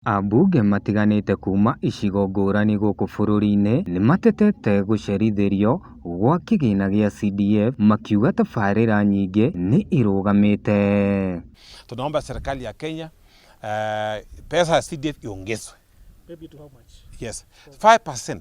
Ambunge matiganĩte kuuma icigo ngũrani gũkũ bũrũri-inĩ nĩmatetete gũcerithĩrio gwa kĩgĩna gĩa CDF makiuga tabarĩra nyingĩ nĩ irũgamĩte. Tunaomba serikali ya Kenya uh, pesa ya CDF iongezwe. Maybe to how much? Yes. 5%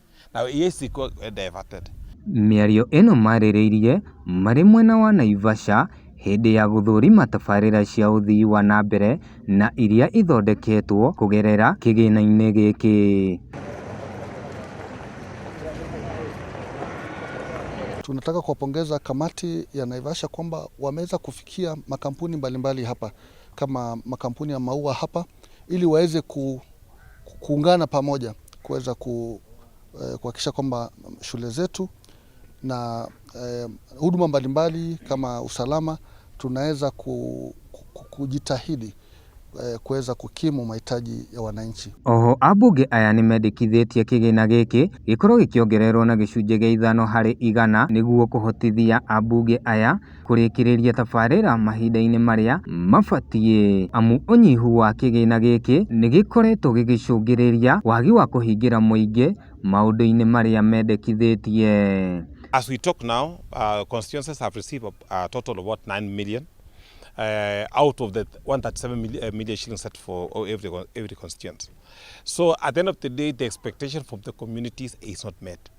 Mĩario ĩno marĩrĩirie marĩ mwena wa Naivasha hĩndĩ ya gũthũrima tabarĩra cia ũthii wa na mbere na iria ithondeketwo kũgerera kĩgĩna-inĩ gĩkĩ. Tunataka kuwapongeza kamati ya Naivasha kwamba wameweza kufikia makampuni mbalimbali hapa kama makampuni ya maua hapa. ili waweze ku, kuungana pamoja kuweza ku, eh, kuhakikisha kwamba shule zetu na eh, huduma mbalimbali kama usalama tunaweza ku, ku, kujitahidi eh, kuweza kukimu mahitaji ya wananchi. Oho ambunge aya nĩ mendĩkithĩtie kĩgĩna gĩkĩ gĩkorwo gĩkĩongererwo na gĩcunjĩ gĩa ithano harĩ igana nĩguo kũhotithia ambunge aya kũrĩkĩrĩria tabarĩra mahinda-inĩ marĩa mabatiĩ, amu ũnyihu wa kĩgĩna gĩkĩ nĩ gĩkoretwo gĩgĩcũngĩrĩria wagi wa kũhingĩra mũingĩ maũndũ-inĩ marĩa mendekithĩtie. As we talk now, uh, constituencies have received a total of what 9 million uh, out of the 137 million, uh, million shillings set for oh, every, every constituent. So at the end of the day, the expectation from the communities is not met.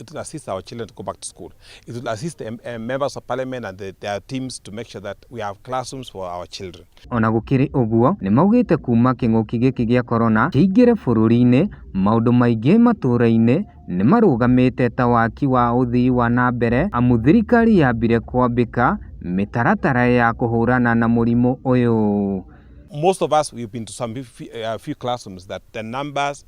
It will assist our children to go back to school. It will assist the uh, members of parliament and the, their teams to make sure that we have classrooms for our children. Ona gũkĩrĩ ũguo nĩ maugĩte kuma kĩng'ũki gĩkĩ gĩa korona kĩingĩre bũrũri-inĩ maũndũ maingĩ matũra-inĩ nĩ marũgamĩte ta waki wa ũthii wa na mbere amu thirikari yambire kwambĩka mĩtaratara ya kũhũrana na mũrimũ ũyũ. Most of us we've been to some few, uh, few classrooms that the numbers